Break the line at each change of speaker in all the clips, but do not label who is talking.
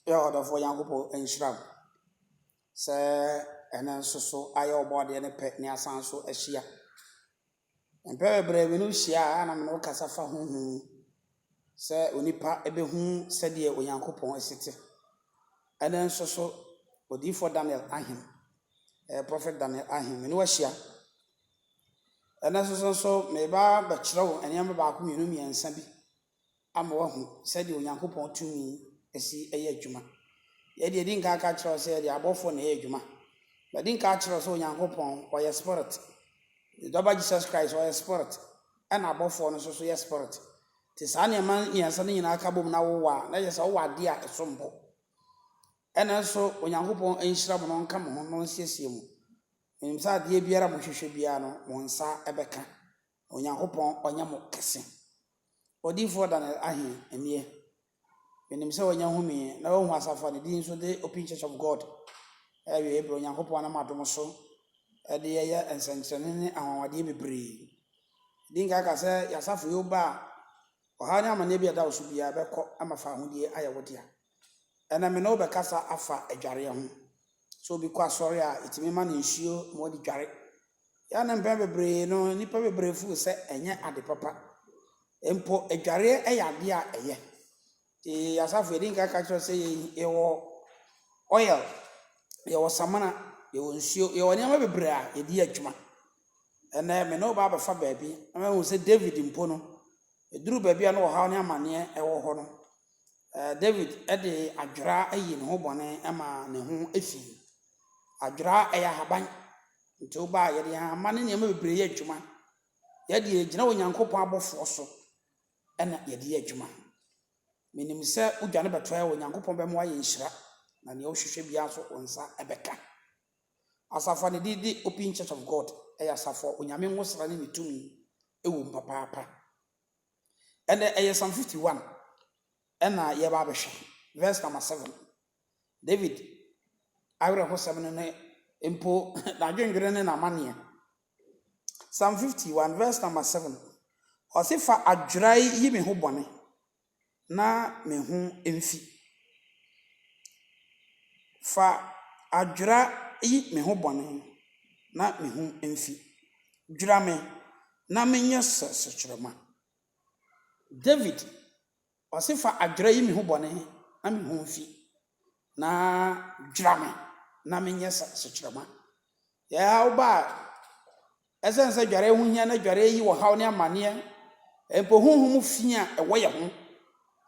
Yɛ ɔdɔfoɔ Nyankopɔn nhyira wo sɛ ɛnɛ nso so ayɛ ɔbɔ adeɛ no pɛ ne asan nso ahyia. Mpɛ bebree me ne wo hyia a na me ne wo kasa fa ho hu sɛ onipa ɛbɛhu sɛdeɛ Onyankopɔn asi te. Ɛnɛ nso so odiyifoɔ Daniel Ahim, eh, Prophet Daniel Ahim, me ne wahyia. Ɛnɛ nso so nso meba bɛkyerɛ wo nneɛma baako mmienu mmiɛnsa bi ama woahu sɛdeɛ Onyankopɔn tumi si yɛ adwuma. Yei deɛ, yɛdi nkan aka akyerɛ wo sɛ yɛde abɔfoɔ na ɛyɛ adwuma. Madi nkan akyerɛ wo sɛ Onyankopɔn, ɔyɛ Spirit. Ne Dɔba Jesus Christ, ɔyɛ Spirit, ɛna abɔfoɔ no nso so yɛ Spirit. Nti saa nneɛma mmiɛnsa no nyinaa ka bom na wowɔ a, na kyerɛ sɛ wowɔ adeɛ a ɛsom bo. Ɛna nso Onyankopɔn nhyira mo na ɔnka mo ho na ɔnsiesie mo. Menim sɛ adeɛ biara a mohwehwɛ biara no, mo nsa bɛka. Onyankopɔn ɔnyɛ mo kɛse. Odiyifoɔ Daniel Ahe, Ɛneɛ, menim sɛ wanya humeɛ na wahu asafo a ne din nso de Open Church of God a awieɛ berɛ Onyankopɔn nam adom so de yɛyɛ nsɛnkyerɛnne ne anwanwadeɛ bebree. Di nkan ka sɛ, Y'asafo yi wo ba a, ɔhaw ne amaneɛ bi a ɛda wo so biara bɛkɔ ma fa ahodie ayɛ wo dea. Ɛnnɛ me ne wo bɛkasa afa adwareɛ ho. Sɛ obi kɔ asɔre a, yɛtumi ma no nsuo ma ɔde dware. Yɛ a na mpɛn bebree no, nnipa bebree feel sɛ ɛnyɛ ade papa. Mpo adwareɛ yɛ adeɛ a ɛyɛ. Nti asafo yɛdi nka ka kyerɛ sɛ yɛwɔ oil, yɛwɔ samina, yɛwɔ nsuo, yɛwɔ nneɛma bebree a yɛde yɛ adwuma. Ɛnnɛ me ne wo ba abɛfa baabi na mahu sɛ David mpo no, ɛduru baabi a na ɔhaw ne amaneɛ wɔ hɔ no, David de adwera ayi ne ho bɔne ma ne ho fi. Adwera yɛ ahaban, nti wo ba a yɛde yɛn ahama ne nneɛma bebree yɛ adwuma. Yɛn deɛ yɛgyina Onyankopɔn abɔfoɔ so na yɛde yɛ adwuma. Menim sɛ wodwane bɛtoa yɛn a, Onyankopɔn bɛma woayɛ nhyira, na deɛ wohwehwɛ biara nso wo nsa bɛka. Asafo a ne din de Open Church of God yɛ asafo a Onyame ngosra ne ne tumi wɔ mu papaapa. Ɛnnɛ ɛyɛ Psalm fifty one ɛna yɛba abɛhwɛ verse number seven. David awerɛhosɛm no ne mpo n'adwendwene ne n'amanneɛ. Psalm fifty one verse number seven. Ɔse fa adwerae yi me ho bɔne. na me ho mfi. Fa adwera yi me ho bɔne na me ho mfi. Dwira me na menyɛ sɛ sukyerɛmma. David, ɔse fa adwera yi me ho bɔne na me ho mfi. na dwira me na menyɛ sukyerɛma. Ɛhaw ba a, ɛsiane sɛ adwareɛ ho hia na adwareɛ yi wɔ haw ne amanneɛ, mpo honhom fi a ɛwɔ yɛn ho,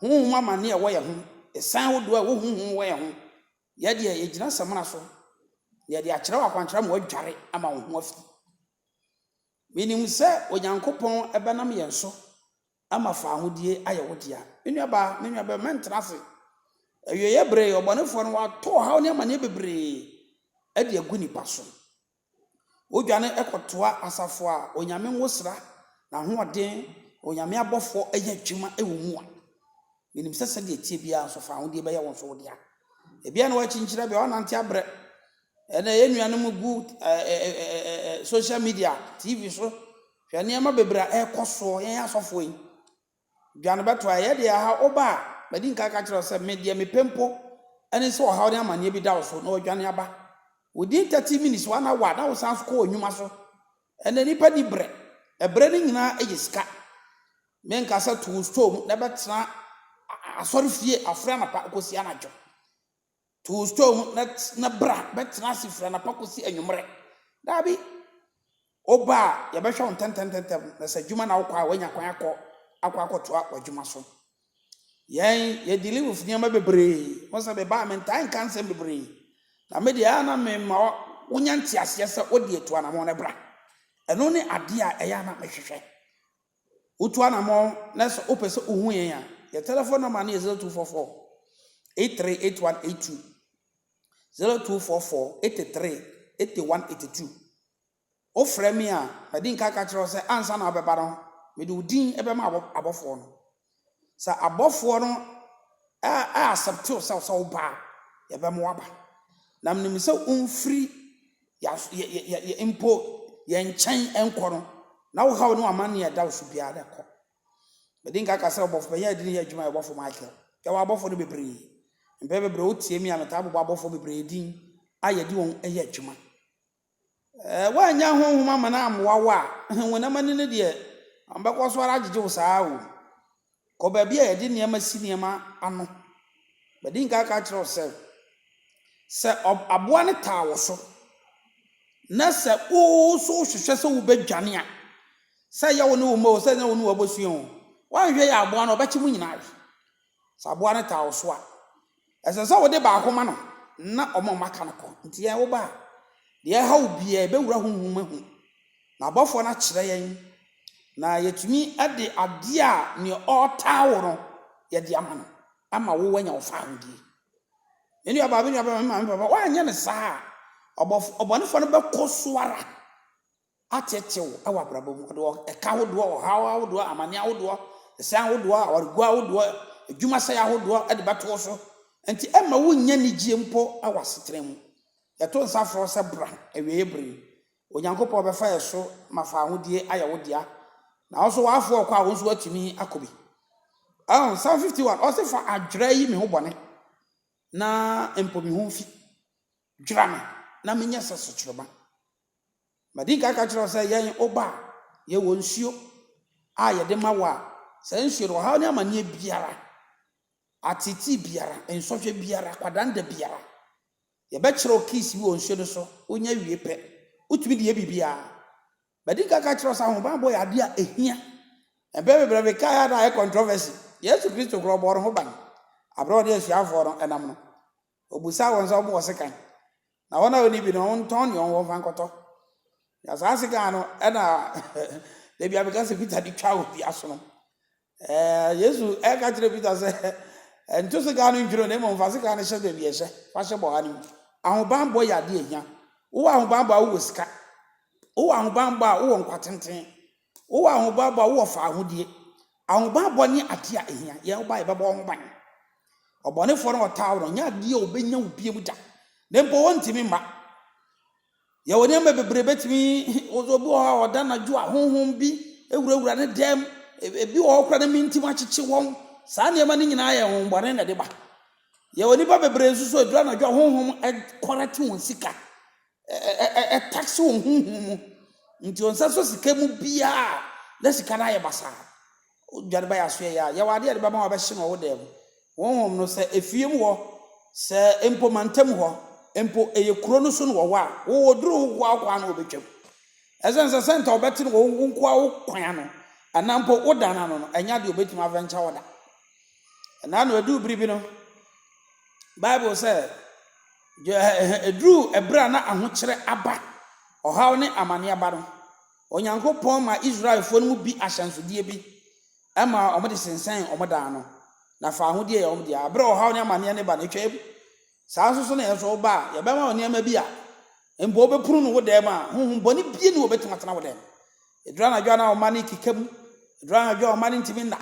honhom amanneɛ a ɛwɔ yɛn ho, ɛsan ahodoɔ a ɛwɔ honhom wɔ yɛn ho. Yɛ deɛ yɛgyina samina so, na yɛde akyerɛ wo akwankyerɛ ma woadware ama wo ho afi. Menim sɛ Onyankopɔn bɛnam yɛn so ama faahodie ayɛ wo dea. Me nuabaa, me nuabɛma, mɛntena ase. Awieeɛ bere, ɔbɔnefoɔ no, wɔato ɔhaw ne amaneɛ bebree de agu nnipa so. Wodwane kɔtoa asafo a Onyame nwosra, n'ahoɔden, Onyame abɔfoɔ yɛ adwuma wɔ mu a. Menim sɛ sɛdeɛ ɛteɛ biara nso, fa ahodeɛ bɛyɛ wo nso wo dea. Ebia na woakyinkyina, ebia woanante abrɛ. Ɛnna yɛn nuanom gu social media, TV so, hwɛ nneɛma bebree a ɛrekɔ soɔ, yɛn asɔfoɔ yi. Dwa no bɛto a, ɛyɛ deɛ ɛha woba a, madi nka ka kyerɛ wo sɛ, me deɛ mepɛ mpo ne sɛ ɔhaw ne amanneɛ bi da wo so na woadwane aba. Within 30 minutes, one hour, na wosan nso kɔ w'adwuma so. Ɛnna nnipa nni brɛ. Ɛbrɛ no nyinaa yɛ sika. Menka sɛ to wo store mu na bɛtena asɔrefie afre anapa kosi anadwo. To wo store mu na na bra bɛtena ase firi anapa kosi anwummerɛ. Daabi. Wo ba a, yɛbɛhwɛ wo ntɛntɛmntɛntɛm, na sɛ adwuma na wokɔ a, woanya kwan akɔ akɔ akɔtoa w'adwuma so. Yɛn, yɛ dealing with nneɛma bebree. Wohu sɛ me ba a, mentaa nka nsɛm bebree. Na me deɛ, a na mema wonya nteaseɛ sɛ wo deɛ tu anamɔn na bra. Ɛno ne adeɛ a ɛyɛ a na mehwehwɛ. Wotu anamɔn na sɛ wopɛ sɛ wohu yɛn a, yɛn telephone number no yɛ 0244 838182, 0244 83 8182. Wofrɛ me a, madi nka aka akyerɛ wo sɛ ansa na wobɛba no, mede wo din bɛma abɔfoɔ no. Sɛ abɔfoɔ no ɛ accept wo sɛ sɛ woba a, yɛbɛma woaba. Na menim sɛ womfiri yɛas yɛ yɛ yɛ yɛ mpo yɛn nkyɛn nkɔ no, na wo haw ne w'amanneɛ a ɛda wo so biara na ɛkɔ. Medi nka ka sɛ Ɔbɔfo Panyin a yɛde no yɛ adwuma yɛ Ɔbɔfo Michael. Yɛwɔ abɔfo no bebree. Mpɛn bebree wotie me a, metaa bobɔ abɔfo bebree din a yɛde wɔn yɛ adwuma. Woannya honhom ama no ammoa wo a, honam ani no deɛ, ɔbɛkɔ so ara agyegye wo saa ara o. Kɔ baabi a yɛde nneɛma si nneɛma ano. Madi nka aka akyerɛ wo sɛ, sɛ aboa no taa wo so, na sɛ wo nso wohwehwɛ sɛ wobɛdwane a, sɛ ɛyɛ wo ne wo mma o, sɛ ɛnyɛ wo ne w'abusua o, woanhwɛ yie a aboa no ɔbɛkye mo nyinaa we. Sɛ aboa no taa wo so a, ɛsɛ sɛ wode baako ma no na ɔma wɔn aka no kɔ. Enti yɛn wo ba a, deɛ ɛha wo biara ɛbɛwura honhom mu ahu. Na abɔfoɔ no akyerɛ yɛn, na yɛatumi de adeɛ a nea ɔretaa wo no yɛde ama no ama wo wanya wo fahodie. Me nuabaa, me nuabaa, me maame, me papa, woanyɛ no saa a, ɔbɔfo, ɔbɔnefoɔ no bɛkɔ so ara ateetee wo wɔ abrabɔ mu, ɔde ɛka ahodoɔ, ɔhaw ahodoɔ, amaneɛ ahodoɔ, ɛsɛn ahodoɔ, awareguo ahodoɔ, adwuma sɛeɛ ahodoɔ de bɛto wo so. Enti ɛmma wonnya anigyeɛ mpo wɔ asetena mu. Yɛto nsa frɛ sɛ bra awieeɛ berɛ yi. Onyankopɔn bɛfa yɛn so ma fawohodie ayɛ wo dea. Na wo nso w'afoɔ rekɔ a wo nso woatumi akɔ bi. Ɛho, Psalm 51, ɔse fa adwerɛ yi me ho bɔne na mpo me ho fi. Dwera me na menyɛ sɛ sukyerɛma. Madi nka aka akyerɛ wo sɛ yɛn wo ba a, yɛwɔ nsuo a yɛde ma wo a, saa nsuo no, ɔhaw ne amaneɛ biara, ateetee biara, nsɔhwɛ biara, kwadanda biara, yɛbɛkyerɛ wo keys bi wɔ nsuo no so, wonya wie pɛ, wotumi de yɛ biribiara. Madi nka aka akyerɛ wo sɛ ahobammɔ yɛ adeɛ a ɛhia. Mpɛn bebree no mekae a na ayɛ controversy. Yesu Kristo koraa ɔbɔɔ ne ho ban berɛ a ɔne asuafoɔ no nam no. Ɔbusaa wɔn sɛ wɔwɔ sekan, na wɔn a wɔnni bi no, wɔntɔn deɛ wɔwɔ mfa nkɔtɔ. Na saa sekan no na dabi a meka sɛ Peter de twa wɔ dua so no. Ɛɛ, Yesu ɛka kyerɛ Peter sɛ, nto sekan no ntwene na mmom fa sekan no hyɛ baabi ɛhyɛ, fa hyɛ bɔha no mu. Ahobanbɔ yɛ adeɛ ɛhia. Wowɔ ahobanbɔ a wowɔ sika. Wowɔ ahobanbɔ a wowɔ nkwa tenten. Wowɔ ahobammɔ a, wowɔ fawohodie. Ahobammɔ ne adeɛ a ɛhia. Yɛn ho ba a, yɛbɛbɔ wo ho ban. Ɔbɔnefoɔ no a ɔtaa wo no, ɔnyɛ adeɛ a ɔbɛnya wo bio da. Na mpo ɔntumi mma. Yɛwɔ nneɛma bebree bɛtumi, obi wɔ hɔ a ɔda anadwo a honhom bi wurawura ne dɛm, ebi wɔ hɔ koraa na mentim akyekye wɔn. Saa nneɛma no nyinaa yɛ honhommɔne na ɛde ba. Yɛwɔ nnipa bebree nso so a ɛduru anadwo a honhom kɔrɛte wɔn sika. Ɛ- ɛ- ɛ- ɛ- Ɛtaksi wɔ huhu mu nti ɔnsa so sika mu biaa na sika no ayɛ basaa. Wodwane ba yɛaso yɛyɛ a yɛwɔ adeɛ a yɛde bɛma wabɛhye no wɔ wo dan mu. Honhom no sɛ efie mu hɔ sɛ mpo mantam hɔ mpo ɛyɛ kuro no so no wɔ hɔ a wowɔ duru wo nkoa wo kwan no wɔbɛtwam. Ɛsɛn sɛ sɛ nta wobɛte no wɔ wo nkoa wo kwan ano anaa mpo wo dan no ano no ɛnyɛ adeɛ obɛtumi avɛnkya wɔ da. Ɛnaa no ɛduu bere bi no Bible sɛ Eduruu bere a na ahokyere aba, ɔhaw ne amane aba no, Onyankopɔn maa Israelfo no mu bi ahyɛnsode bi ma wɔde sensɛn wɔn dan ano, na fawohodie yɛ wɔn dea. Bere a ɔhaw ne amaneɛ no ba no, ɛtwaam. Saa nso so na yɛn nso woba a, yɛbɛma wo nneɛma bi a mpo wobɛpunu no wo dan mu a honhom bɔne bi nni hɔ a obetumi atena wo dan mu. Eduru anadwo a na wo mma no rekeka mu, eduru anadwo a wo mma no ntumi nna,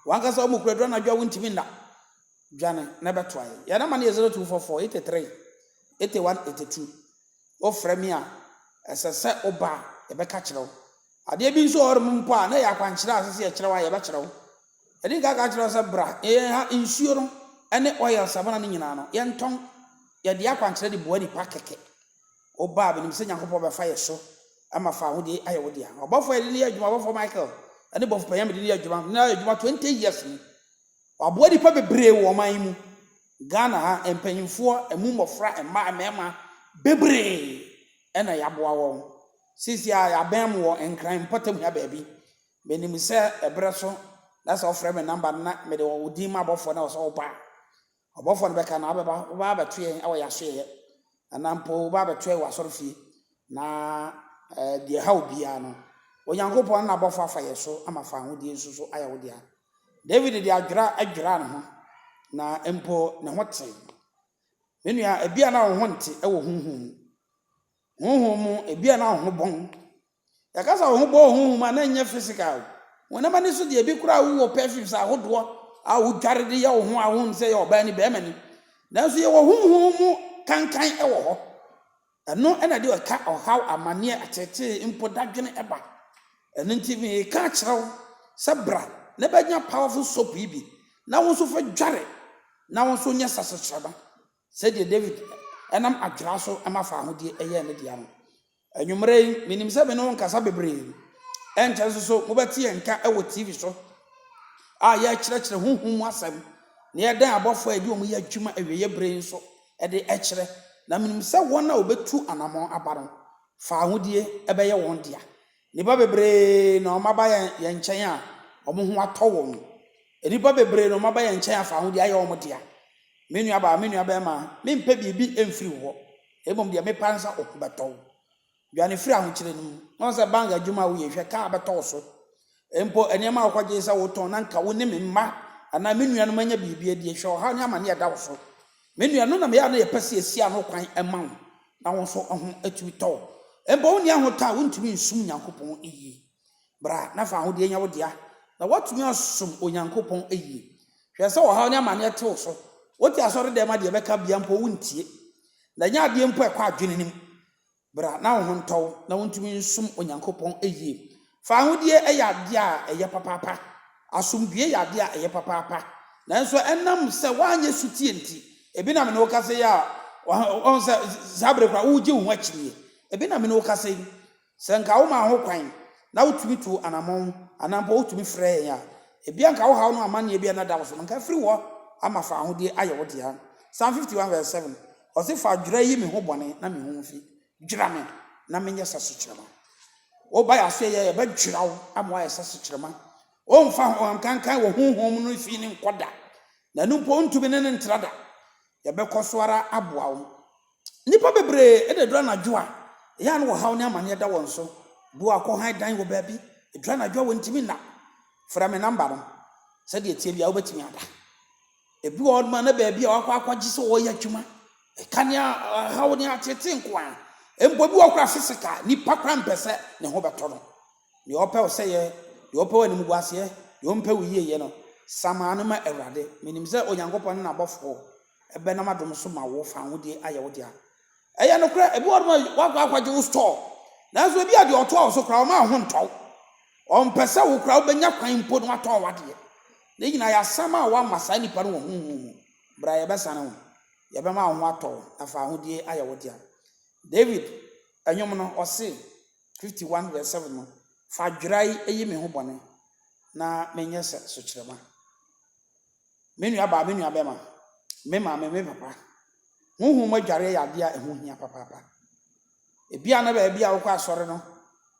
w'ankasa wo mu koraa eduru anadwo a wuntumi nna. dwane na bɛtoa yɛn. Yɛn nɔma no yɛ 0244 83 81 82. Wofrɛ me a, ɛsɛ sɛ woba a, yɛbɛka kyerɛ wo. Adeɛ bi nso wɔ hɔnom mpo a, na ɛyɛ akwankyerɛ a ɛsɛ sɛ yɛkyerɛ wo a, yɛbɛkyerɛ wo. Yɛde nka ka kyerɛ wo sɛ bra, yɛn ha nsuo no ne oil samina no nyinaa no, yɛntɔn. Yɛde akwankyerɛ de boa nnipa kɛkɛ. Woba a, menim sɛ Nyankopɔn bɛfa yɛn so ma fa ahodie ayɛ wo dea. Ɔbɔfoɔ a yɛde no yɛ adwuma, Ɔbɔfoɔ Michael ne Bɔfo Panyin a mede no yɛ adwuma, na yɛayɛ adwuma 20 years ni. Waboa nnipa bebree wɔ ɔman yi mu. Ghana ha, mpanyimfoɔ, ɛmu mmɔfra, mmaa, mmarima, bebree na yɛaboa wɔn. Seesei ara yɛabɛn mo wɔ Nkran mpɔtam ha baabi. Menim sɛ ɛberɛ so na sɛ wofrɛ me namba no na mede wo din ma abɔfoɔ na wɔ sɛ woba a, Ɔbɔfoɔ no bɛka, na wobɛba, wobɛba abɛto yɛn wɔ yɛn asoɛeɛ, anaa mpo wobɛba abɛto yɛn wɔ asɔrefie, na ɛɛ, deɛ ɛha wo biara no, Onyankopɔn ne n'abɔfoɔ afa yɛn so ama fa ahodie nso so ayɛ wo dea. Dawid de adwera dwiraa ne ho, na mpo ne ho tee. Me nua, ebia na wo ho nte wɔ honhom mu. Honhom mu, ebia na wo ho bɔn. Yɛka sɛ wo ho bɔɔ honhom a, na ɛnyɛ physical. Honam ani so deɛ, ebi koraa wowɔ perfumes ahodoɔ a wodware de yɛ wo ho a wohu no sɛ ɛyɛ ɔbaa ni, barima ni. Nanso yɛwɔ honhom mu kankan wɔ hɔ. Ɛno na ɛde ɛka, ɔhaw, amanneɛ, ateetee, mpo dadwene ba. Ɛno nti mereka akyerɛ wo sɛ bra na bɛnya powerful soap yi bi na wo nso fa dware na wo nso nyɛ sasekyerɛma. Sɛdeɛ David nam adwera so ma faa ahodeɛ yɛɛ ne dea no, anwummerɛ yi, menim sɛ me ne wo nkasa bebree. Ɛnkyɛ nso so mobɛte yɛn nka wɔ TV so a yɛrekyerɛkyerɛ honhom mu asɛm na yɛdan abɔfoɔ a yɛde wɔn yɛ adwuma awieeɛ berɛ yi nso de kyerɛ. Na menim sɛ wɔn a wɔbɛtu anammɔn aba no, faa ahodeɛ bɛyɛ wɔn dea. Nnipa bebree na wɔaba yɛn nkyɛn a wɔn ho atɔ wɔn. Nnipa bebree na wɔaba yɛn nkyɛn afa ahodeɛ ayɛ wɔn dea. Me nuabaa, me nuabarima, mempɛ biribi mfiri wo hɔ, na mmom deɛ mepɛ ara ne sɛ wo ho bɛtɔ wo. Dwane firi ahokyere no mu, na ɔn sɛ bank adwuma a woyɛ hwɛ, kaa bɛtɔ wo so. Mpo nneɛma a wokɔgyee sɛ wotɔn na anka wo ne me mma anaa me nuanom anya biribi adi, hwɛ ɔhaw ne amane a ɛda wo so. Me nua, ɛno na meyɛ a na yɛpɛ sɛ yɛsi ano kwan ma wo na wo nso wo ho atumi tɔ wo. Mpo wonni ahotɔ a wontumi nsom Nyankopɔn yie. Bra na fa ahodeɛ nya wo dea, na woatumi asom Onyankopɔn yie. Hwɛ sɛ ɔhaw ne amanneɛ te wo so. Wote asɔre dɛm a deɛ ɛbɛka bia mpo wontie. Na ɛnyɛ adeɛ mpo a ɛkɔ adwene no mu. Bra na wo ho ntɔ wo na wuntumi nsom Onyankopɔn yiye. Fa ahodie yɛ adeɛ a ɛyɛ papaapa. Asomdwoeɛ yɛ adeɛ a ɛyɛ papaapa. Nanso ɛnam sɛ woanyɛ sotie nti, ebi na me ne wo kasa yi a, wahu sɛ saa bere koraa woregye wo ho akyinnye. Ebi na me ne wo kasa yi. Sɛ nka womaa ho kwan na wotumi tuu anammɔn anaa mpo wotumi frɛɛ yɛn a, ebia nka wo haw no amanneɛ bi a na ɛda wo so no, nka afiri hɔ ama fa ahodie ayɛ wo dea. Psalm 51 vs 7. Ɔse fa dwera yi me ho bɔne na me ho nfi, dwera me na me nyɛ sɛ sukyerɛma. Wo ba yase yɛ yɛ bɛ dwera wo ama wayɛ sɛ sukyerɛma. O nfa honham kankan wɔ honhom mu no fi ne nkɔ da, na ɛno mpo ontumi ne no ntra da. Yɛ bɛ kɔ so ara aboa wo. Nnipa bebree na ɛduru anadwo a, ɛyɛ a na ɔhaw ne amaneɛ da wɔn so. Bi wɔ hɔ a kɔhan dan wɔ baabi, ɛduru anadwo a wɔntumi nna. Frɛ me namba no, sɛdeɛ ɛteɛ biara wobɛtumi ada. Ebi wɔ hɔnom a na baabi a wakɔ akɔgye sɛ ɔreyɛ adwuma, ɛka ne ɔhaw ne ateetee nko ara. Mpo ebi wɔ hɔ koraa physical, nipa koraa mpɛ sɛ ne ho bɛtɔ no. Deɛ ɔpɛ wo sɛeɛ, deɛ ɔpɛ wo animguaseɛ, deɛ ɔmpɛ wo yieyɛ no, samaa no ma Awurade. Menim sɛ Onyankopɔn ne n'abɔfoɔ bɛnam adom so ma wo fa ahodie ayɛ wo dea. Ɛyɛ nokorɛ, ebi wɔ hɔnom a woakɔ akɔgye wo store, nanso ebi a deɛ ɔtoa wo so koraa ɔmma wo ho ntɔ wo. Ɔmpɛ sɛ wo koraa wobɛnya kwan mpo na woatɔn w'adeɛ. Ne nyinaa yɛ asɛm a woama saa nipa no wɔ honhom mu. Bra yɛbɛsane wo, yɛbɛma wo ho atɔ wo na fa ahodie ayɛ wo dea. David nnwom no, ɔse, 51 vs 7 no, Fa dwerae yi me ho bɔne na menyɛ sɛ sukyerɛma. Me nuabaa, me nuabɛma, me maame, me papa, honhom mu adwareɛ yɛ adeɛ a ɛho hia papaapa. Ebia na baabi a wokɔ asɔre no,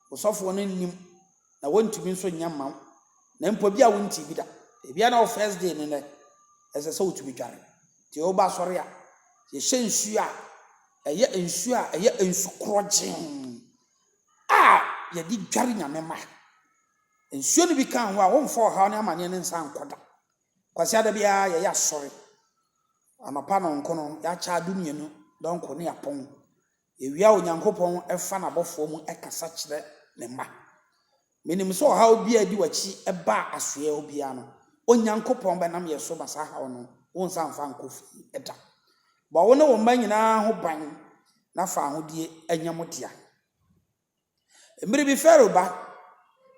wo sɔfoɔ no nnim, na wɔntumi nso nyɛ mma wo, na mpo ebia wontee bi da. Ebia na wo first day no nnɛ, ɛsɛ sɛ wotumi dware. Nti woba asɔre a, yɛhyɛ nsuo a ɛyɛ nsuo a ɛyɛ nsu korɔgyee a yɛde dware Nyame mma. Nsuo no bi ka ho a womfa ɔhaw ne amaneɛ ne nsa nkɔ da. Kwasiada biara yɛyɛ asɔre. Anɔpa nɔnko no yɛakyɛ ado mmienu dɔnko ne apɔn. Yɛwie a Onyankopɔn fa n'abɔfoɔ mu kasa kyerɛ ne mma. Menim sɛ ɔhaw biara a ɛdi w'akyi ba a asoɛɛ hɔ biara no, Onyankopɔn bɛnam yɛn so ba saa haw no, wonsan mfa nkɔ fie da. Bɔ wo ne wo mma nyinaa ho ban na fa ahodie nyɛ mo dea. Mmere bi Farao ba,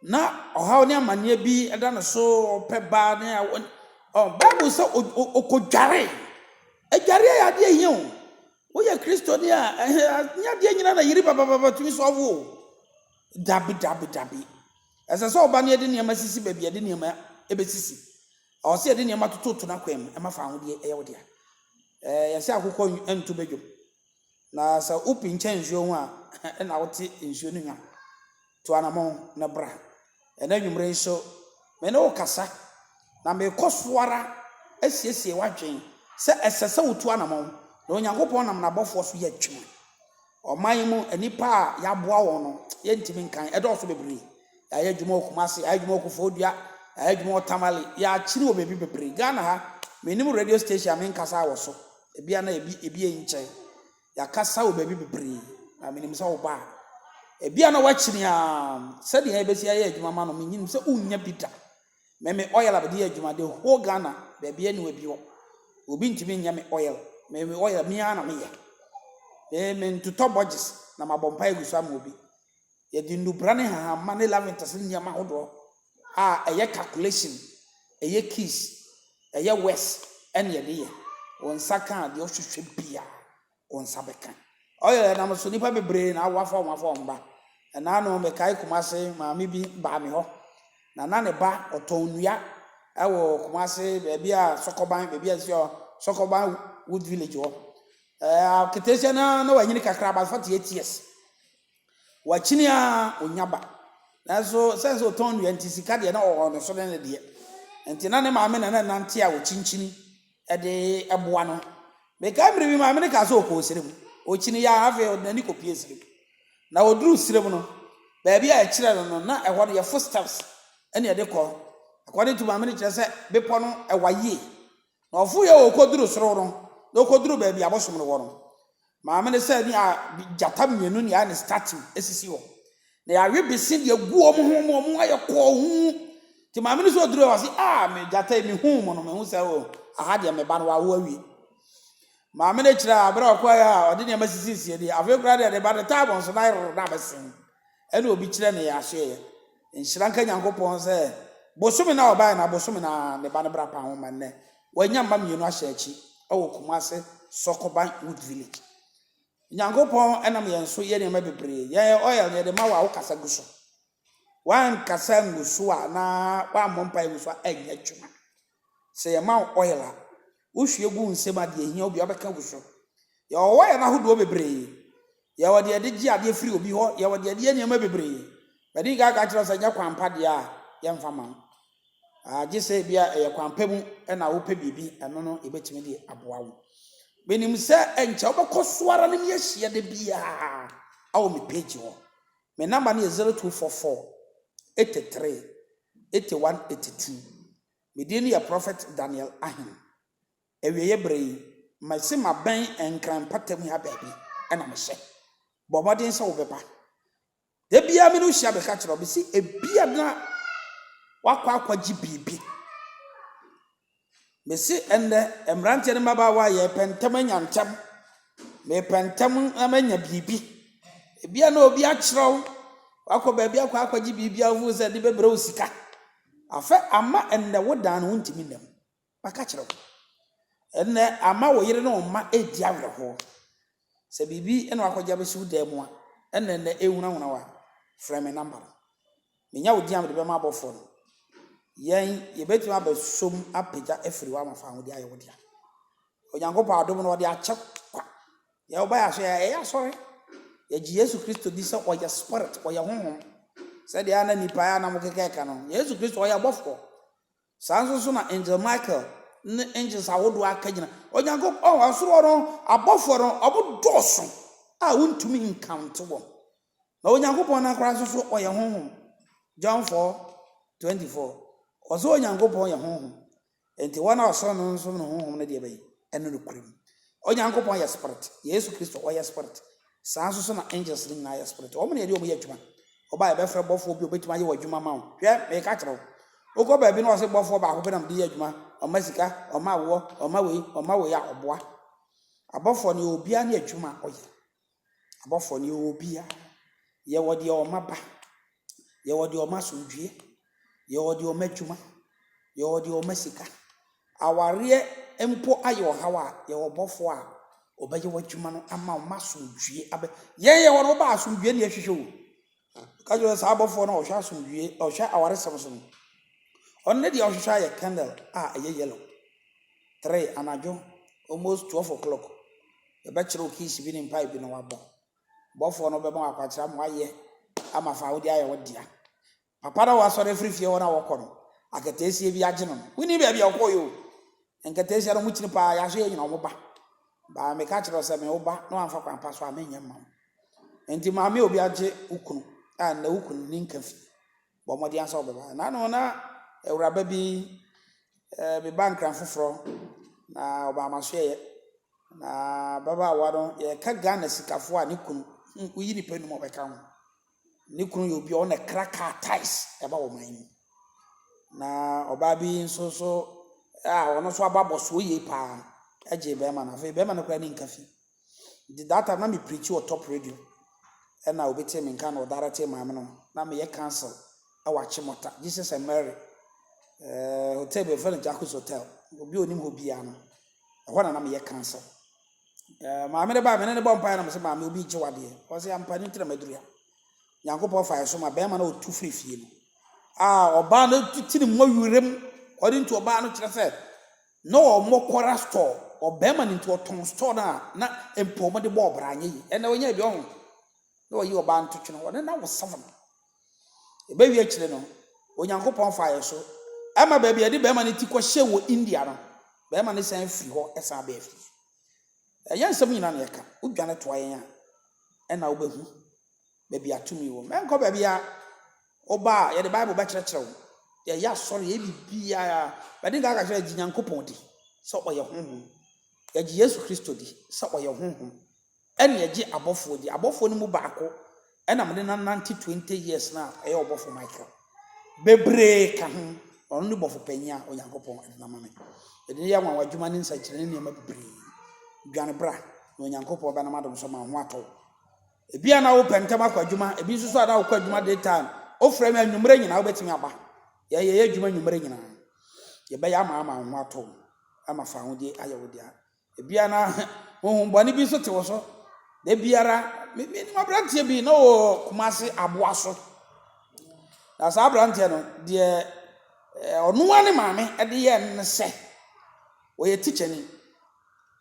na ɔhaw ne amanneɛ bi da ne so, ɔpɛ ba ne awo. Ɔ Bible sɛ ɔkɔdwaree. Adwareɛ yɛ adeɛ hia o. Woyɛ Kristoni a, ɛnyɛ adeɛ nyina na yere babababa tumi sɔɔvo o. Dabi, dabi, dabi. Ɛsɛ sɛ ɔba no yɛde nneɛma sisi baabi yɛde nneɛma bɛsisi. Ɔwɔ sɛ yɛde nneɛma tototo n'akwan mu. Ɛma fa ahodeɛ yɛ wo dea. Ɛɛ yɛsɛ akokɔ nto badwam. Na sɛ wopinkyɛn nsuo ho a, ɛna wote nsuo no hwa. Tu anamɔn na bra. Ɛnɛ anwummere nso, me ne wo kasa, na mekɔ so ara asiesie w'adwene sɛ ɛsɛ sɛ wotu anamɔn, na Onyankopɔn nam n'abɔfoɔ so yɛ adwuma. Ɔman yi mu nnipa a yɛaboa wɔn no, yɛntumi nkan, ɛdɔɔso bebree. Yɛayɛ adwuma wɔ Kumasi, yɛayɛ adwuma wɔ Koforidua, yɛayɛ adwuma wɔ Tamale, yɛakyere wɔ baabi bebree. Ghana ha, mennim radio station a menkasa wɔ so. Ebia na ebi ebi yɛ nkyɛn. Yɛakasa wɔ baabi bebree, na menim sɛ wobaa. Ebia na woakyini a sɛdeɛ yɛbɛsi ayɛ adwuma ma no, menim sɛ wonnya bi da. Me me oil a mede yɛ adwuma, the whole Ghana, baabi ani wɔ bi hɔ. Obi ntumi nyɛ me oil. Me me oil, me ara na meyɛ. Me mentotɔ bɔgyes na mabɔ mpaeɛ agu so ama obi. Yɛde nnubra ne nhahamma ne laventers ne nneɛma ahodoɔ a ɛyɛ calculation, ɛyɛ keys, ɛyɛ wes ɛne yɛde yɛ. Wo nsa kaa deɛ ɔhwehwɛ bia wo nsa bɛka. Oil ɛnam so nipa bebree na awo afa wɔn afa wɔn ba. Ɛna ano mekae Kumasi maame bi baa me hɔ na na ne ba ɔtɔn nnua ɛwɔ Kumasi baabi a sɔkɔban baabi a ɛsi hɔ sɔkɔban wood village hɔ. Ɛɛ, ketesia no ara na wanyini kakra about forty eight years. Wakyini ara ɔnya ba. Nanso sɛn sɛ ɔtɔn nnua nti sika deɛ na ɔwɔ ne so ne ne deɛ. Nti na ne maame na na ɛnante a ɔkyinkyini de boa no. Mekae mmerɛ bi maame no kaa sɛ ɔkɔɔ serɛ mu. Ɔkyini yɛ a afei ɔde n'ani kɔpuee serɛ mu. Na ɔduruu serɛ mu no, baabi a ɛkyerɛ no no na ɛhɔ no yɛ footsteps na ɛde kɔ. According to maame no kyerɛ sɛ bepɔ no ɛwa yie. Na ɔforo yɛ ɔkɔduru soro no, na ɔkɔduru baabi a abosom no wɔ no, maame no sɛ ne a gyata mmienu ne ayɛ ne statue asisi hɔ, na yɛawe bese de agu wɔn ho ma wɔn ayɛ kɔɔ hu. Nti maame no sɛ ɔduru hɔ ɔse, ah, me gyata yi mehu mo no, mehu sɛ o, aha deɛ me ba no wawo awie. Maame no akyire a, berɛ a ɔkɔɛ a ɔde nneɛma sisisii deɛ, afei koraa deɛ ne ba no taa wɔn so na ayɛ roro na abɛsen. Ɛna obi kyerɛ ne yɛasoɛeɛ. Nhyira nka Nyankopɔn sɛ bosome no a ɔbaeɛ no, abosome no ara ne ba no bra paa ho ma nnɛ wanya mma mmienu ahyɛ akyi wɔ Kumase Sɔkoban Wood Village. Nyankopɔn nam yɛn so yɛ nneɛma bebree. Yɛn oil no yɛde ma wo a wokasa gu so. Woankasa angu so a anaa woammɔ mpaeɛ angu so a ɛnyɛ adwuma. Sɛ yɛma wo oil a, wohwie gu wo nsam a, deɛ ɛhia wo biara wobɛka agu so. Yɛwɔ oil no ahodoɔ bebree. Yɛwɔ deɛ yɛde gye adeɛ firi obi hɔ, yɛwɔ deɛ yɛde yɛ nneɛma bebree. Madi kan aka akyerɛ wo sɛ ɛnyɛ kwan pa deɛ a, yɛmfa mma wo. Ah, gye sɛ ebi a ɛyɛ kwan pa mu na wopɛ biribi, ɛno no yɛbɛtumi de aboa wo. Menim sɛ ɛnkyɛ wobɛkɔ so ara ne me ahyia da biara wɔ me page hɔ. Me namba no yɛ 0244 83 Ete one ete two Me din yɛ Prɔfɛt Daniel Ahen Awieɛ berɛ yi masi mabɛn Nkran mpatamu ha baabi na mehyɛ Bɔ mmɔden sɛ wobɛba Da biara me ne wo hyia meka kyerɛ wo Mese ebia na wakɔ akɔgye biribi Mese ɛnnɛ, mmeranteɛ ne mmabaawa, yɛrepɛ ntɛm anya ntɛm. Merepɛ ntɛm na manya biribi. Ebia na obi akyerɛ wo, woakɔ baabi akɔ akɔgye biribi a wofoo sɛ de bɛbrɛ wo sika. Afɛ ama ɛnnɛ wo dan no wontumi nna mu. Maka kyerɛ wo. Ɛnnɛ ama wo yere ne wo mma redi awerɛhoɔ. Sɛ biribi na wakɔgye abɛsi wo dan mu a, ɛna ɛnnɛ ɛrehunahuna wo a, frɛ me namba no. Menya wo din a mede bɛma abɔfoɔ no. Yɛn, yɛbɛtumi abɛsom apagya afiri hɔ ama fa aho de ayɛ wo dea. Onyankopɔn adom no, ɔde akyɛ kwa. Yɛ woba yɛ aso yɛ a, ɛyɛ asɔre. Yɛgye Yesu Kristo di sɛ ɔyɛ Spirit, ɔyɛ Honhom. Sɛdeɛ a na nnipa a na mokeka ɛka no, Yesu Kristo ɔyɛ abɔfoɔ. Saa ara nso nso na Angel Michael ne angels ahodoɔ akagyina. Onyankop ɔn ɔsoro hɔ no, abɔfoɔ no, ɔmo dɔɔso a wontumi nkaonte wɔn. Na Onyankopɔn no ankora nso so ɔyɛ Honhom. John 4, 24. Ɔse Onyankopɔn yɛ Honhom. Enti wɔn a ɔsom no no som no Honhom no deɛ bɛn? Ɛno nokorɛ mu. Onyankopɔn yɛ Spirit. Yesu Kristo, ɔyɛ Spirit. Saa ara nso so na angels no nyinaa yɛ spirit. Wɔn na yɛde wɔn yɛ adwuma. Ɔbaa yɛbɛfrɛ bɔfoɔ bi a ɔbɛtumi ayɛ w'adwuma ma wo. Hwɛ, meka kyerɛ wo. Wokɔ baabi na wɔse bɔfoɔ baako pɛ na mede yɛ adwuma, ɔma sika, ɔma awoɔ, ɔma wei, ɔma wei a, ɔboa. Abɔfoɔ no, yɛwɔ obiara ne adwuma a ɔyɛ. Abɔfoɔ no, yɛwɔ obiara. Yɛwɔ deɛ ɔma ba. yɛwɔ deɛ ɔma asomdwoeɛ, yɛwɔ deɛ ɔma adwuma, yɛwɔ deɛ ɔma sika. Awareɛ mpo ayɛ ɔhaw a, yɛwɔ ɔbɔfoɔ a ɔbɛyɛ w'adwuma no ama wo ma asomdwoeɛ abɛ. Yɛn yɛwɔ no wobaa asomdwoeɛ na yɛhwehwɛ o. Ka kyerɛ saa abɔfoɔ no a ɔhwɛ asomdwoeɛ, ɔhwɛ awaresɛm so no. Ɔno ne deɛ ɔhwehwɛ ayɛ candle a ɛyɛ yellow. Three anadwo, almost twelve o'clock, yɛbɛkyerɛ wo keys bi ne mpae bi na wabɔ. bɔfoɔ no bɛma wo akwankyerɛ ama woayɛ ama fa a wode ayɛ wo dea. Papa no a wasɔre afiri fie hɔ no a wɔkɔ no, akataasie bi agye no no, wonni baabi a ɔkɔeɛ o. Nkataasia no mokyini paa, yɛn nso yɛnyina wɔn ba. Baa meka kyerɛ wo sɛ me wo ba na wamfa kwan pa so a menyɛ mma wo. Enti maame obi agye wo kunu a nnɛ wo kunu nni nka fie. bɔ mmɔden ara sɛ wobɛba. Nna ano na awuraba bi beba Nkran foforɔ na ɔbaa m'asoɛeɛ. Na ababaawa no, yɛka Ghana sikafoɔ a ne kunu, woyi nnipa nnum a wɔbɛka ho. Ne kunu yɛ obi a ɔno na ɛkra kaa taes ɛba wɔn man mu. Na ɔbaa bi nso so a ɔno nso aba abɔsoɔ yie paa gyee barima no. Afei barima no koraa ani nka fi. Nti that time na me preachi wɔ top radio ɛna obi tee me nka na ɔdarektee maame no na meyɛ council ɛwɔ Achimota Jesus and Mary ɛɛ hotel bi wɔfrɛ no Jacques hotel obi onim hɔ biara no ɛhɔ na na meyɛ council ɛɛ maame no baa me ne ne bɔ mpaeɛ na mese maame obi gye wadeɛ ɔse ampa ne ntina maduru ha Nyankopɔn faeɛ so ma bɛrima na ɔtu firi fie no a ɔbaa no titiri mmɔ werem ɔde nti ɔbaa no kyerɛ sɛ Na ɔmɔ kɔra store ɔbɛɛma no nti ɔtɔn store no a na mpo ɔmɔ de bɔ ɔbra anyɛ yi ɛnɛ ɔnyɛ bi ɔho na ɔyi ɔbaa nto twene ɔne na wo seven ɛbɛ wie akyire no Onyankopɔn fa yɛ so ɛma baabi yɛde bɛɛma no ti kɔ hyɛ wɔ India no bɛɛma no san firi hɔ ɛsan abɛɛ fie ɛnyɛ nsɛm nyina na yɛka wodwane toa yɛn a ɛna wobɛhu baabi a tumi wom. Ɛnkɔ baabiara. Woba a, yɛde Bible bɛkyerɛkyerɛ wo. Yɛyɛ asɔre, yɛyɛ biribiara. Bɛde nka aka kyerɛ gye Nyankopɔn di sɛ ɔyɛ honhom. Yɛgye Yesu Kristo di sɛ ɔyɛ honhom. Ɛne yɛgye abɔfoɔ di. Abɔfoɔ no mu baako na mede no anante twenty years no a ɛyɛ ɔbɔfo Michael. Bebree ka ho. Ɔno ne bɔfo panyin a Onyankopɔn de no ama me. Yɛde no yɛ anwanwa adwuma ne nsɛnkyerɛnne nneɛma bebree. Dwane bra na Onyankopɔn bɛnam adom so ama wo ho atɔ wo. Ebi a na wopɛ ntɛm akɔ adwuma, ebi nso so a na wokɔ adwuma day time. Wofrɛ me anwumerɛ nyinaa wobɛtumi aba. Yɛn yɛyɛ adwuma anwumerɛ nyinaa. Yɛbɛyɛ ama ama wo ho atɔ wo, ama fa ahodeɛ ayɛ wo dea. Ebi a na honhom bɔne bi nso te wo so. Da biara, me me nim aberanteɛ bi na ɔwɔ Kumasi aboa so. Na saa aberanteɛ no, deɛ ɔno ara ne maame de yɛ ne sɛ, ɔyɛ tikyani.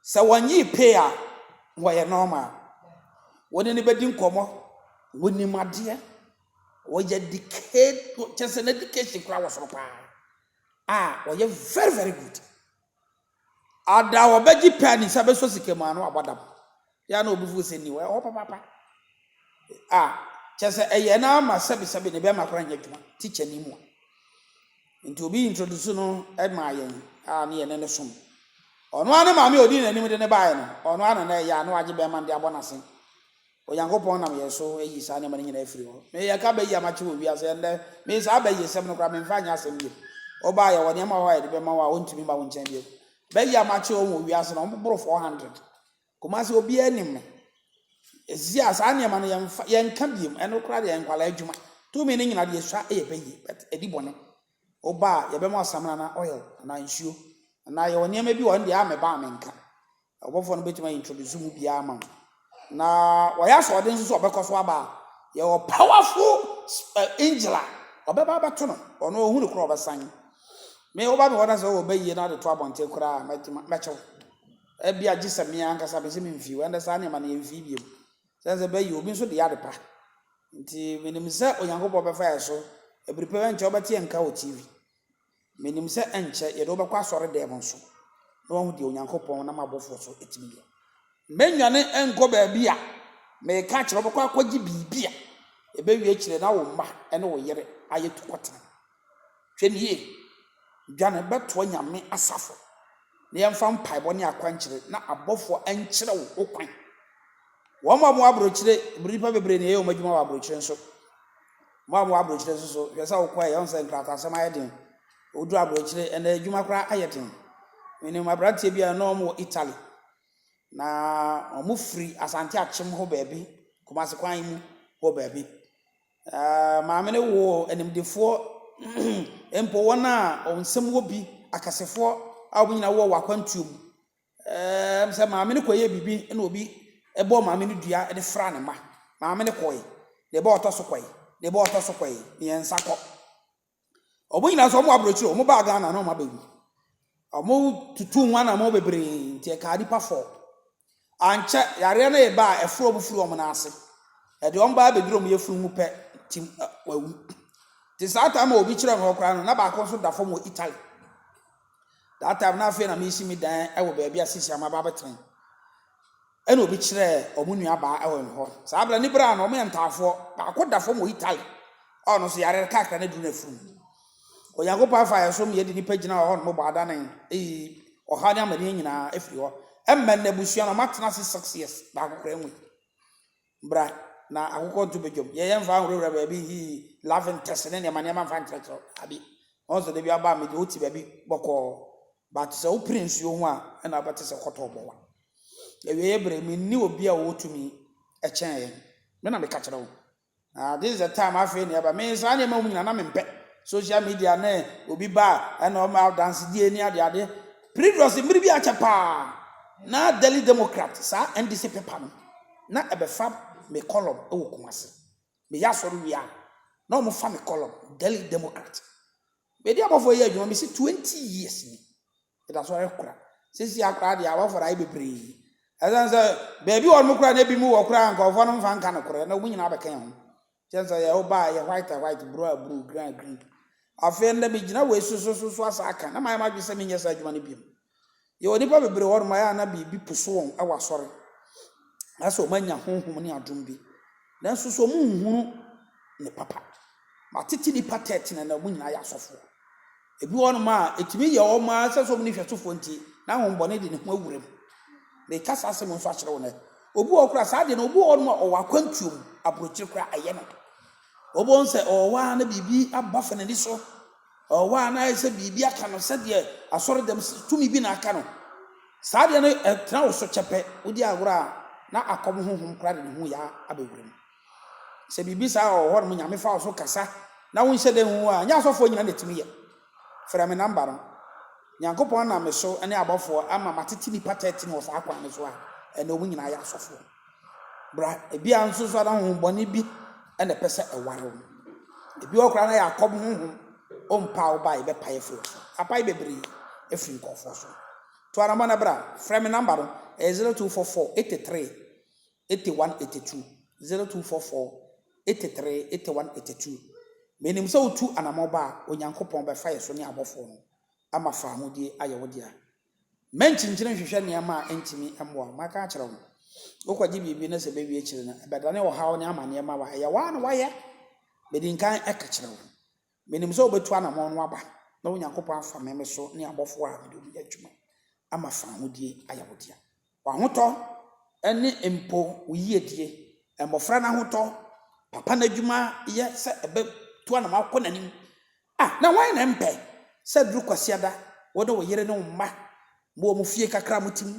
Sɛ wɔnyee pay a, wɔyɛ normal. Wo ne no bɛdi nkɔmmɔ, wonim adeɛ, wɔyɛ educate, kyerɛ sɛ n'education koraa wɔ soro paa. A wɔyɛ very very good. Ada a wɔbɛgye pɛ a ne nsa bɛsɔ sika mu a na wabɔ dam. Yɛ a na obi fo sɛ nni hɔ, ɛwɔ hɔ papaapa. Ah, kyerɛ sɛ ɛyɛ no ara ma sɛbesɛbe ne bɛrima koraa nyɛ adwuma, tikyani mua. Nti obi introduce no maa yɛn a ne yɛne no som. Ɔno ara ne maame a odii n'anim de no baeɛ no, ɔno ara na na ɛyɛ a na wagye bɛrima no de abɔ n'ase. Onyankopɔn nam yɛn so ayi saa nneɛma no nyinaa afiri hɔ. Me, yɛka bɛ yi a makye wɔ wiase ha nnɛ, me saa bɛ yisɛm no koraa memfa nyɛ asɛm bio. Woba a yɛwɔ nneɛma wɔ hɔ a yɛde bɛma wo a wontumi mma wo nkyɛn bio. Bɛ yi a makye wɔn wɔ wiase no, wɔboro 400. Kumasi obiara nim me. Ɛsia saa nneɛma no yɛnfa yɛnka biom ɛno koraa deɛ nkwalaa adwuma tumi no nyina deɛ sua ɛyɛ pɛ yie but ɛdi bɔne woba a yɛbɛma ɔsamina anaa oil anaa nsuo anaa yɛwɔ nneɛma bi wɔ hɔ no deɛ a mɛba a menka ɔbɔfoɔ no bɛtumi a introduce mu biara ma wo na wɔyɛ asoɔden nso sɛ ɔbɛkɔ so aba a yɛwɔ powerful angel a ɔbɛba abɛto no ɔno ɔhu no koraa ɔbɛsan me woba me hɔ na sɛ ɔwɔ bɛyie na ade to abɔnten koraa mɛkyew Ebia gye sɛ me ankasa mese memfii hɔ. Ɛnde saa nneɛma no yɛmfii bio. Sɛ ɛsɛ sɛ bɛyɛ, obi nso de yɛ adepa. Enti menim sɛ Onyankopɔn bɛfa yɛn so. Bere pa bi ankyɛ wobɛte yɛn nka wɔ TV. Menim sɛ ɛnkyɛ yɛde wobɛkɔ asɔredan mu nso na woahu deɛ Onyankopɔn nam abɔfoɔ so tumi yɛ. Mɛnnwane nkɔ baabi a meka akyerɛ wo, wobɛkɔ akɔgye biribi a ɛbɛwie akyire na wo mma ne wo yere ayɛ tukɔtena. Hwɛ no yie, dwane bɛtoa Nyame asafo, na yɛmfa mpaebɔ ne akwankyerɛ na abɔfoɔ nkyerɛ wo ho kwan. Wɔn a wɔwɔ aburokyire, nnipa bebree na yɛyɛ wɔn adwuma wɔ aburokyire nso. Wɔn a wɔwɔ aburokyire nso so, hwɛ sɛ wokɔ a yɛn sɛ nkrataasɛm ayɛ den. Woduru aburokyire, ɛnna adwuma koraa ayɛ den. Menim aberanteɛ bi a na wɔn wɔ Italy, na wɔn firi Asante akyem hɔ baabi, Kumasi kwan yi mu hɔ baabi. Maame no woo animdefoɔ mpo wɔn a wɔn nsam wɔ bi, akasefoɔ a wɔn nyinaa wɔ wɔ akwantuo mu. Ɛɛm sɛ maame no kɔyɛɛ biribi na obi bɔɔ maame no dua de fraa ne mma. Maame no kɔe. Da bi a ɔtɔ so kɔe, da bi a ɔtɔ so kɔe, mmiɛnsa kɔ. Wɔn nyinaa nso, wɔwɔ aburokyire, wɔn baa Ghana na wɔn aba yi. Wɔn tutuu ho anamɔ bebree nti ɛkaa nipa fɔɔ. Ankyɛ yareɛ no reba a ɛforo wɔn firi wɔn nan ase. Ɛde wɔn baa bɛduru wɔn yɛfunu mu pɛ tim ɛ wɔawu. Nti saa time a obi kyerɛ me hɔ koraa no na baako nso da fam wɔ Italy. That time na afei na mesi me dan wɔ baabi a sisi a maba abɛtena yi. Ɛnna obi kyerɛɛ wɔn nuabaa Ellen hɔ. Saa bere no, ne bere ano, wɔyɛ ntaafoɔ. Baako da fam wɔ Italy a ɔno nso yare rekakra no aduru n'afurum. Onyankopɔn afa yɛn so ma yɛde nnipa gyina hɔ a wɔn bɔ adane ayi ɔhaw ne amaneɛ nyinaa afiri hɔ. Ɛmma nnɛ, abusua no, wɔatena ase six years, baako koraa nwui. Bra na akokɔ nto badwam. Yɛyɛ mfa nhurahura baabi hii, laughing ntɛse ne nneɛma nneɛma mfa nkyerɛkyerɛ baabi. Ɔn sɛ da bi aba a mede wo te baabi bɔkɔɔ but sɛ wo pere nsuo ho a ɛna wobɛte sɛ kɔtɔɔ bɔwa. Awieɛ bere, me nni obi a ɔwɔ tumi kyɛn yɛn. Me na me ka kyerɛ wo. Ah this is the time afei na ɛba. Me saa nneɛma wom nyinaa na me mpɛ. Social media ne obi ba a ɛna ɔma adansedie ne ade ade. Previously mmere bi akyɛ paa na Daily Democrat saa NDC paper no. na ɛbɛfa me kɔlɔm wɔ Kumasi. Meyɛ asɔre wie a, na wɔfa me kɔlɔm, Daily Democrat. Mede abɔfoɔ yɛ adwuma mesi 20 years ni. Meda asɔre kora. Sesia koraa deɛ abɔfoɔ ayɛ bebree. Ɛsiane sɛ baabi wɔ nom koraa na ebi mu wɔ koraa nkurɔfoɔ no mfa nka nokorɛ na wɔn nyinaa bɛka yɛn ho. Kyɛn sɛ yɛ woba a yɛ white a white bruu a bruu green a green afei ndɛ me gyina wei so so so so asa aka na mayɛ m'adwene sɛ me nyɛ saa adwuma no biom yɛ wɔ nipa bebree hɔ nom a yɛ a na biribi puso wɔn wɔ asɔre na sɛ wɔn anya honhom ne adom bi nanso so wɔn nhunu ne papa matete nipa tɛɛte na na wɔn nyinaa yɛ asɔfoɔ. Ebi wɔnom a, etumi yɛ wɔn ara esiane sɛ wɔn nni hwɛsofoɔ nti, na ahohombɔne de ne ho awura mu. Mereka saa asɛm yi nso akyerɛ wo nnɛ. Obi wɔ hɔ koraa a, saa adeɛ no, obi wɔ hɔnom a, ɔwɔ akwantuo mu, aburokyire koraa ɛyɛ no. Wobɛhu sɛ ɔwɔ hɔ ara na biribi abɔ afa n'ani so. Ɔwɔ hɔ ara na ayɛ sɛ biribi aka no sɛdeɛ asɔredɛm si, tumi bi na aka no. Saa adeɛ no, ɛtena wo so kyɛpɛ. Wodi agorɔ a, na akɔm honhom koraa de ne ho yɛ abɛwura mu. Sɛ biribi saa wɔ hɔnom, Nyame fa wo so kasa na wonhyɛ da nhu a, nyɛ asɔfoɔ nyina na ɛtumi yɛ. Frɛ me namba no. Nyankopɔn nam me so ne abɔfoɔ ama matete nnipa 13 wɔ saa kwan no so a ɛnɛ wɔn nyinaa yɛ asɔfoɔ. Bra, ebia nso so a na honhom bɔne bi na ɛpɛ sɛ ɛware wo. Ebi wɔ koraa na Yakob honhom, ɔmpaa wo bae bɛpae afiri wo so. Apae bebree afiri nkurɔfoɔ so. To anamɔ na bra. Frɛ me namba no, ɛyɛ 0244 83 81 82 0244 83 81 82 Menim sɛ wotu anammɔn ba a, Onyankopɔn bɛfa yɛn so ne abɔfoɔ no ama faamudie ayɛ wo dea. Mma nkyinkyini nhwehwɛ nneɛma a ɛntumi mmoa wo. Maka akyerɛ wo no. Wokɔgye biribi na sɛ ɛbɛwie akyiri no, ɛbɛdane ɔhaw ne amanneɛ ma wo a, ɛyɛ wo ara na woayɛ. Madi nkan ka kyerɛ wo. Menim sɛ wobetu anammɔn no aba na Onyankopɔn afa me, me so, ne abɔfo a mede wɔn yɛ adwuma ama fawohodie ayɛ wo dea. W'ahotɔ ne mpo wo yiedie, mmɔfra no ahotɔ, papa no adwuma yɛ sɛ ɛbɛtu anammɔn akɔ n'anim. A Na hwan na ɛmpɛ sɛ aduru Kwasiada wo ne wo yere ne wo mma mo wɔ mo fie kakra a mote mu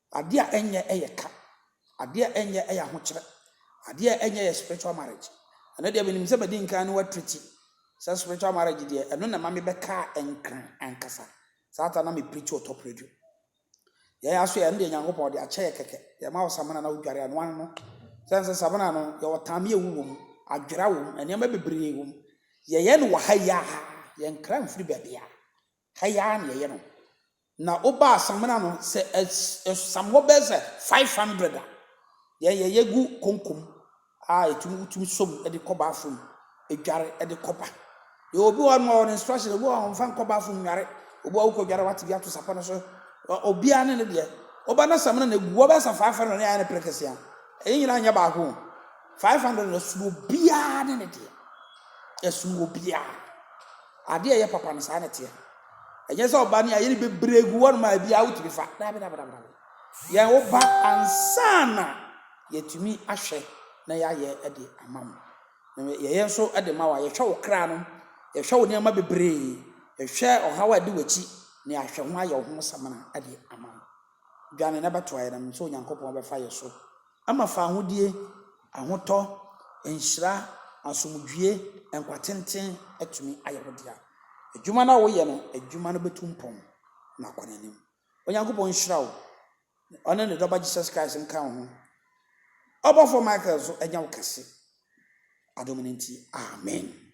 Adeɛ a ɛnyɛ yɛ ka. Adeɛ a ɛnyɛ yɛ ahokyerɛ. Adeɛ a ɛnyɛ yɛ spiritual marriage. Ɛno deɛ menim sɛ madi nkan ne woatriti sɛ spiritual marriage deɛ ɛno na ɛma me bɛkaa nkran ankasa. Saa ta na me preachi ɔtɔ predu. Yɛn aso yɛ ɛno deɛ Nyankopɔn ɔde akyɛ yɛ kɛkɛ. Yɛ ma wo samina na wo dware anoa no no. Sɛn sɛ samina no yɛ wɔ taame ɛwu wɔ mu, adwera wɔ mu, nneɛma bebree wɔ mu. Yɛ yɛ no wɔ ha yi aa, yɛ nkra mfiri baabiara. Ha yi ara na yɛyɛ no. Na wobaa samena no, sɛ ɛsam hɔ bɛyɛ sɛ five hundred a, yɛn yɛyɛ gu konko mu a ɛtumi wotumi sɔ mu de kɔ bathroom dware de kɔba. Yɛwɔ obi hɔ no ɔwɔ instruction, obi hɔ a ɔmfa nkɔ bathroom nware, obi hɔ wokɔ dware wate bi ato sapɔ no so. Obiara ne ne deɛ. Woba na samena no egu hɔ bɛyɛ sɛ five hundred na yɛayɛ no prekese a, ɛyɛ nyinaa nyɛ baako o. Five hundred no ɛsono obiara ne ne deɛ. Ɛsono obiara. Adeɛ a ɛyɛ papa no saa na ɛteɛ. Ɛnyɛ sɛ ɔba ne ayere bebree gu hɔnom a ebiara wotumi fa. Daabi, daabi, daabi, daabi. Yɛn wo ba ansa na yɛtumi ahwɛ na yɛayɛ de ama wo. Na yɛyɛ nso de ma wo a, yɛhwɛ wo kra no, yɛhwɛ wo nneɛma bebree, yɛhwɛ ɔhaw a ɛde w'akyi, na yɛahwɛ ho ayɛ wo ho samina de ama wo. dwane na bɛto ayerɛm sɛ Onyankopɔn bɛfa yɛ so ama fa ahodie, ahotɔ, nhyira, asomdwie, nkwa tenten atumi ayɛ wo dea. Adwuma no a woyɛ no, adwuma no bɛtu mpɔn na akɔ n'anim. Onyankopɔn nhyira wo na ɔne ne Dɔba Jesus Christ nka wo ho. Ɔbɔfoɔ Michael nso anya wo kɛse adom no nti. Amen.